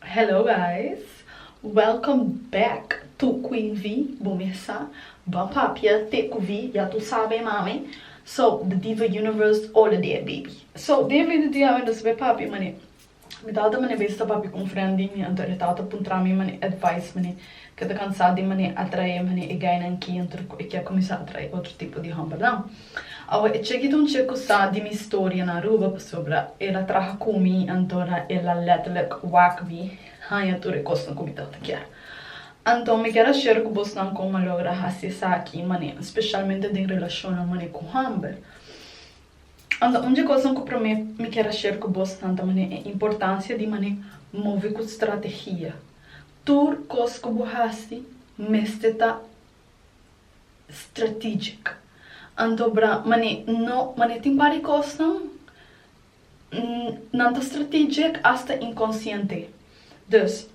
Hello guys welcome back to queen vi bo mesa ba papia te cu vi ya tu sabe mami so the diva universe all are there baby so den video di awe nos be papia manera Mi tata mane bes ta papia con friend di mi, anto e tata puntra mi mane advice mane ke ta cansa di mane atrae mane e gainan ki anto cu e kier cuminsa atrae otro tipo di hombernan. Awe e cheki ta un checo sa di mi historia na Aruba pasobra el a traha cu mi anto ra el a letterlijk wak mi hanja tur e cosnan cu mi tata kier. Anto mi kier a share cu bosnan con a logra haci esaki mane specialmente den relacionnan mane cu homber. Unda un dje kosan ku promé mi kier a share ku bos tanta mané e importansia di mané move ku strategia. Tur kos ku bo hasi mester ta strategic. Anto bra mané no mané tin par di kosnan nan ta strategic asta inkonsiente. Dus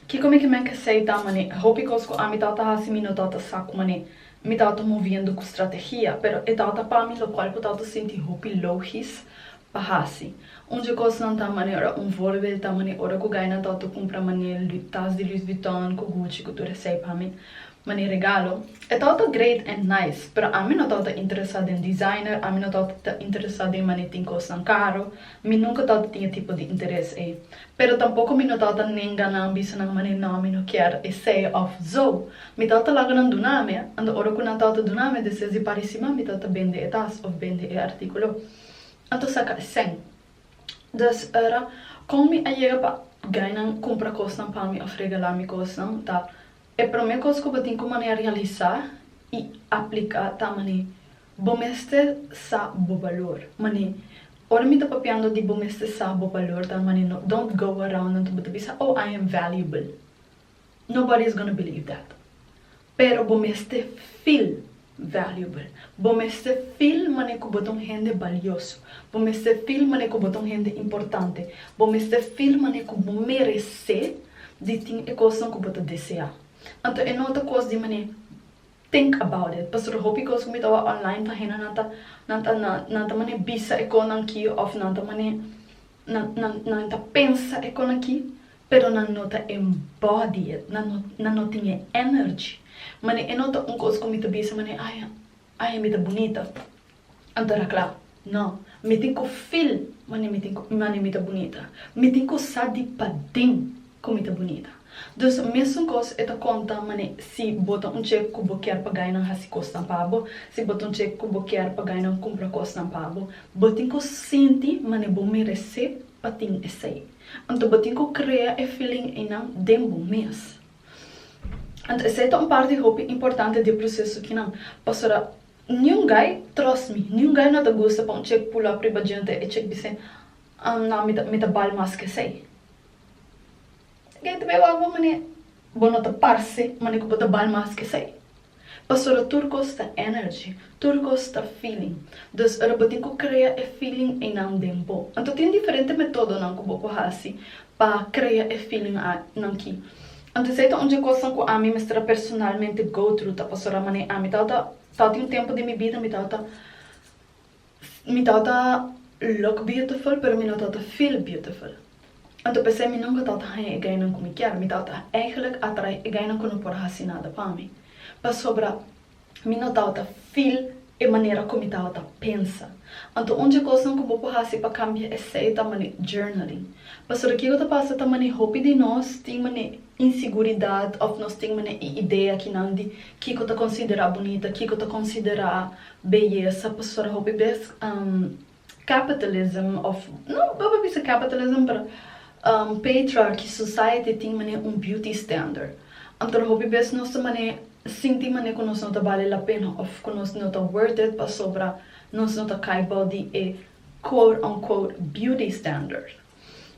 Kiko mi ke men ke sei ta mane e hopi kos ku ami tau ta hasi mi no tau ta sa ku mane mi tau ta moviendo ku strategia, pero e tau ta pa mi lokual ku tau ta sinti hopi logis pa hasi. Un dje kosnan ta mane ora un vorbel ta mane ora ku gainan tau ta kumpra mane tas di Louis Vuitton ku Gucci ku tur esei pa mi mane regalo. E tau ta great en nice, pero ami no tau ta interesa den designer, ami no tau ta interesa den mane tin kosnan karo, mi nunka tau ta tin e tipo di interes ei. Pero tampoko mi no tabata nenga nan bisanan mane no mi no kier esei of zo. Mi tabata laga nan duna mi, anda ora ku nan tabata duna mi deseas di pari sima mi tabata bende e tas of bende e artikulo. Anto saka esei. Dus ora kon mi a yega pa gainan kumpra kosnan pa mi of regala mi kosnan ta E promé kos ku bo tin ku manera realisá i apliká ta man'é, bo mester sa bo balor. Man'é, Ora mi ta papiando di bo mester sa bo balor ta man'é no don't go around anto bo ta bisa oh I am valuable. Nobody is gonna believe that. Pero bo mester feel valuable. Bo mester feel manera cu bo ta un hende balioso. Bo mester feel manera cu bo ta un hende importante. Bo mester feel manera cu bo merece di tin e cosnan cu bo ta desea. Anto e no ta cos di manera think about it pasobra hopi cos cu mi ta wak online pa hende nan ta nan ta nan ta manera bisa e cosnan aki of nan ta manera nan nan nan ta pensa e cosnan aki. pero nan no ta embodied, nan no nan no tin e energy, mane e no ta un cos cu mi ta bisa mane ay ay mi ta bunita an ta racla, no, mi tin cu feel mane mi tin cu mane mi ta bunita, mi tin cu sa di paden cu mi ta bunita, dus mesun cos e ta conta mane si bo ta un chek cu bo kier pagai nan haci cosnan pa bo, si bo ta un chek cu bo kier pagai nan cumpra cosnan pa bo, bo tin cu sinti mane bo merece pa tin esey. Anto bo tin cu crea e feeling eynan den bo mes. Anto esey ta un parti hopi importante di e proceso kinan. Pasobra niun guy, trust me, niun guy no ta gusta pa un chick pull up riba djente e chick bisey, Ahn na, mi ta, mi ta bal mas ke esey. E guy ta bay wak bo mane bo no ta parce mane cu bo ta bal mas ke esey. Pastora tur cos ta energy, tur cos ta feeling. Dus ora bo tin cu crea e feeling eynan den bo. Anto tin diferente metodonan cu bo cu haci pa crea e feeling nan ki. Anto esey ta un dje cosnan cu ami mester a personalmente go through ta pastora mane ami tabata tabata tin un tempo den mi bida mi tabata. Mi ta ta look beautiful pero mi no ta ta feel beautiful. Anto p'esei mi nunka ta ta haña e gainan ku mi kier. Mi ta ta eigelijk atrai e gainan ku no por hasi nada pa mi. Pasobra mi no ta ta feel e manera ku mi ta ta pensa. Anto un dje kosnan ku bo por hasi pa kambia esei ta manera journaling. Pasobra kiko ta pasa ta manera hopi di nos tin manera inseguridat òf nos tin manera e idea kinan di kiko ta konsiderá bunita, kiko ta konsiderá Beyesa pastora hopi bes capitalism of no bo por bisa capitalism pero patriarchy society tin manera un beauty standard anto hopi bes nos ta manera sinti manera cu nos no ta bali la pena of cu nos no ta worth it pasobra nos no ta cay bou di e quote unquote beauty standard.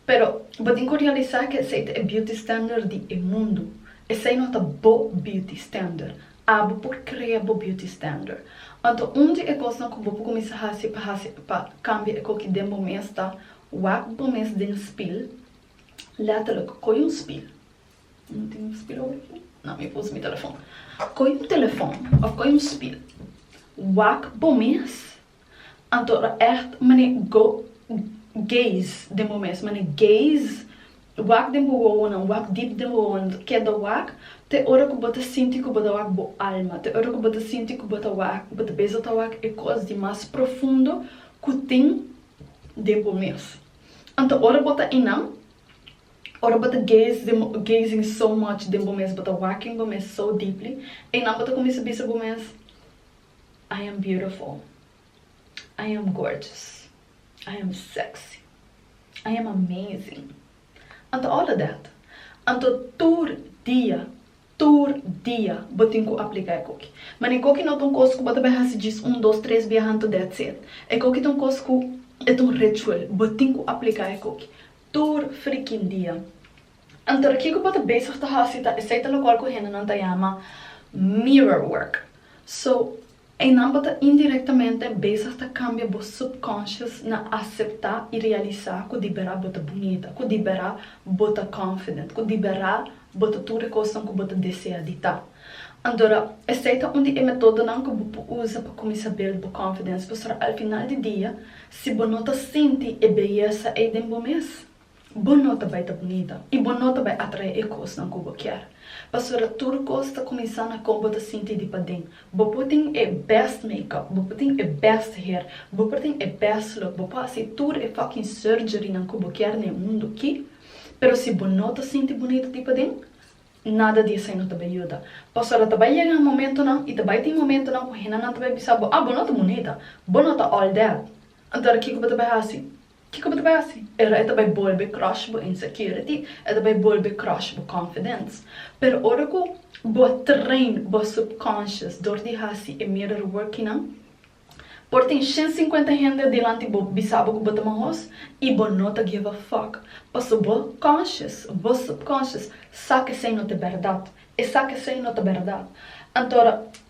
Pero, bo tin cu realisa cu esey ta e beauty standard di e mundu. Esey no ta bo beauty standard. Abo por crea bo beauty standard. Anto un di e cosnan cu bo por cuminsa haci pa haci pa cambia e coki den bo mes ta, wak bo mes den spil, letterlijk, coy un spil, no tin un spil ober aki? No, mi por usa mi telefon. Coy un telefon of coy un spil, wak bo mes Anto lo echt mane go gays den bo mes mane gays wak den bo wowonan wak deep den bo wowonan keda wak te ora ku bo ta sinti ku bo ta wak bo alma te ora ku bo ta sinti ku bo ta wak bo ta beza ta wak e kos di mas profundo ku tin den bo mes anto ora bo ta innan ora bo ta gays den bo gazing so much den bo mes bo ta waking bo mes so deeply einan bo ta kuminsa bisa bo mes. I am beautiful I am gorgeous I am sexy I am amazing Anto all of that Anto tur dia tur dia bo tin ku apliká e koki Mane e koki no ta un kos ku bo ta bai hasi djis un dos tres bia hantu that's it E koki ta un kos ku e ta un ritual bo tin ku apliká e koki tur frikin dia Anto di kiko bo ta bezig ta hasi ta esei ta lokual ku hendenan ta yama mirror work. So, einan bo ta indirektamente bezig ta kambia bo subconscious na aseptá i realisá ku di bera bo ta bunita, ku di bera bo ta confident, ku di bera bo ta tur e kosnan ku bo ta desea di ta. Antora, esei ta un di e metodonan ku bo por usa pa kuminsá build bo confidence, pasobra al final di dia, si bo no ta sinti e beyesa ei den bo mes, Bo no ta bai ta bunita i bo no ta bai atrae e kosnan ku bo kier. Pasobra tur kos ta kuminsá na kon bo ta sinti di paden. Bo por tin e bèst makeup, bo por tin e bèst hair, bo por tin e bèst look, bo por hasi tur e fucking surgerynan ku bo kier na e mundu aki, pero si bo no ta sinti bunita di paden, nada di esei no ta bai yuda. Pasobra ta bai yega momentunan i ta bai tin momentunan ku hendenan ta bai bisa bo, Ah, bo no ta bunita. Bo no ta all that. Anto ara kiko bo ta bai hasi? Kiko bo ta bai hasi? E ta bai bolbe crush bo insecurity, e ta bai bolbe crush bo confidence. Pero ora cu bo a train bo subconscious dor di hasi e mirror workingnan, por tin shen cincuenta hende dilanti bo bisa bo cu bo ta mahoz y bo no ta give a fuck, paso bo conscious, bo subconscious, sa cu esey no ta berdad, e sa cu esey no ta berdad. Anto ora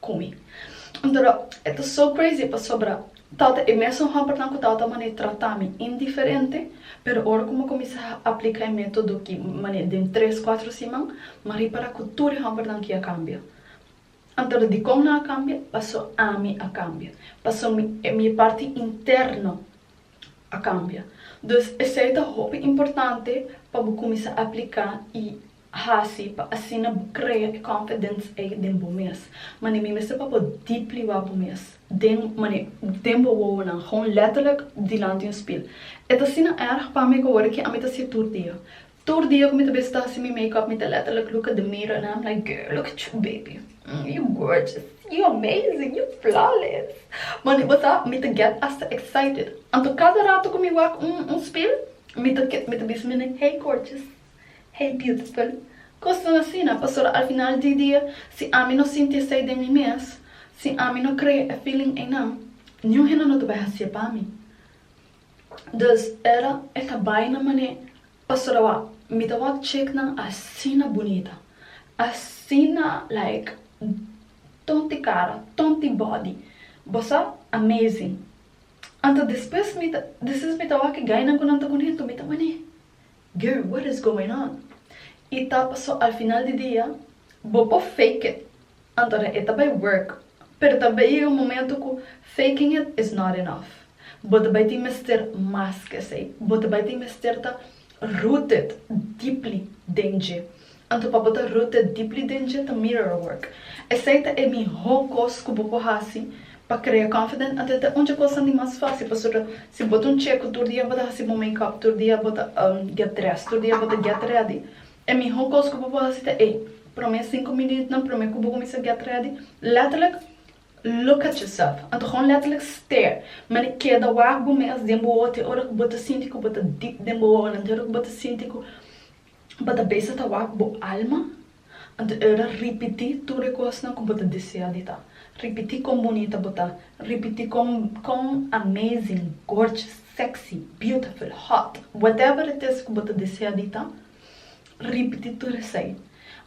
ku mi. Ntoro e ta so crazy pasobra tawata e mesun hòmbernan ku tawata mane trata mi indiferente, pero ora ku mi a kuminsá apliká e método ki mane den tres, kuatro siman, m'a ripará ku tur e hòmbernan ki a kambia. Ntoro dikon nan a kambia? Paso ami a kambia. Paso mi mi e parti interno a kambia. Dus esei ta hopi importante pa bo kuminsá apliká i hasi pa asina bo krea e confidence ei den bo mes, manera mi mester pa bo deep liwa bo mes den den bo wowonan, gewoon letterlijk dilanti un spiel. E ta asina erg pa mi ku awor aki ami ta hasi'e tur dia. Tur dia ku mi ta bisita hasi mi makeup mi ta letterlijk look at the mirror and I'm like, girl, look at you baby, you gorgeous, you amazing, you flawless. Manera bo sa, mi ta get hasta excited. Anto kada rato ku mi wak un spiel, mi ta mi ta bisa mi nei, hey gorgeous, Hey beautiful, cosnan asina, pasobra al final di dia si ami no sinti esey den mi mes, si ami no crea e feeling eynan, niun hende no ta bai haci'e pa mi. Dus era e ta bai na mane pasobra wak mi ta wak chicnan asina bunita, asina like tonti cara, tonti body, bo sa, amazing. Anto despues mi ta, despues mi ta wak e gainan cu nan ta cunento mi ta mane, Girl what is going on? Y ta paso al final di dia bo por fake it antora e ta bay work pero ta bay yega un momento cu faking it is not enough bo ta bay tin mester mas ke esey bo ta bay tin mester ta rooted deeply den dje Anto pa bo ta rooted deeply den dje ta mirror work. Esei ta e mihó kos ku bo por hasi pa krea confident anto e ta un dje kosnan di mas fásil pasobra si bo ta un cheku tur dia bo ta hasi bo make up tur dia bo ta get dressed tur dia bo ta get ready e mihó kos ku bo por hasi ta ei promé sinku minütnan promé ku bo kuminsá get ready letterlik look at yourself anto hon letterlik stare mane keda wak bo mes den bo wowote ora ku bo ta sinti ku bo ta deep den bo wowonan te ora ku bo ta sinti ku bo ta besa ta wak bo alma, anto el a ripití tur e kosnan ku bo ta desea di ta, ripití kon bunita bo ta, ripití kon kon amazing, gorgeous, sexy, beautiful, hot, whatever it is ku bo ta desea di ta, ripití tur esei.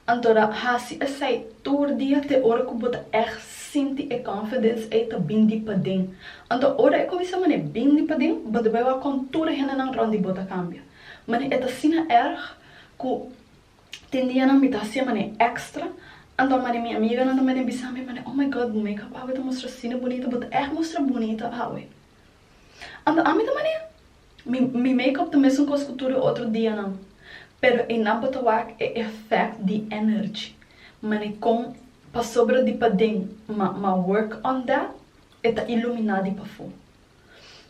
Anto ra hasi esei tur dia te ora ku bo ta ègt sinti e confidence ei ta bin di paden. Anto ora e kuminsá manera bin di paden, bo ta bai wak kon tur e hendenan rònt di bo ta kambia. Mane e ta asina erg cu tin dianan mi ta hacié mane extra, anto mane mi amiganan ta mane bisa mi mane, Oh my God, bo make-up awe ta mustra asina bunita, bo ta echt mustra bunita awe. Anto ami ta mane, Mi mi make-up ta mesun cos cu tur e otro dianan, pero e nan por ta wak e effect di energy, mane con pasobra di paden ma ma work on that e ta ilumina di pafo.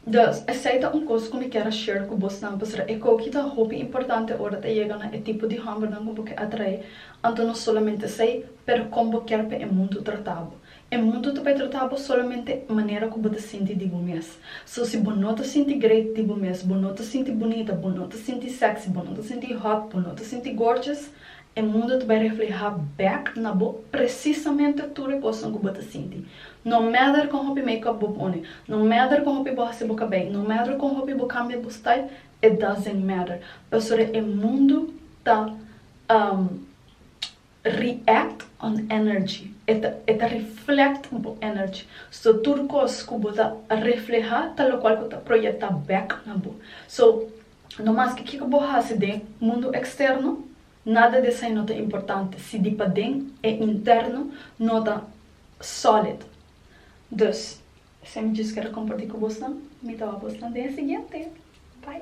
Dus, esei ta un kos ku mi kier a share ku bosnan, pasobra e koki ta hopi importante ora ta yega na e tipo di hòmbernan ku bo ke atraé. Anto no solamente esei, pero kon bo kier pa e mundu trata bo. E mundu ta bai trata bo solamente manera ku bo ta sinti di bo mes. So, si bo no ta sinti great di bo mes, bo no ta sinti bunita, bo no ta sinti sexy, bo no ta sinti hot, bo no ta sinti gorgeous, E mundu ta bai reflehá bèk na bo presisamente tur e kosnan ku bo ta sinti. No mèder kon hopi make-up bo pone, no mèder kon hopi bo hasi bo kabei, no mèder kon hopi bo kambia bo style, it doesn't matter, pasobra e mundu ta react on energy, e ta e ta reflect bo energy. So tur kos ku bo ta reflehá ta lokual ku ta proyektá bèk na bo. So, No maske kiko bo hasi den mundu eksterno, nada di esei no ta importante si di paden e interno no ta sòlid. Dus, esei mi djis keda kompartí ku bosnan, mi ta wak bosnan den e siguiente. Bai!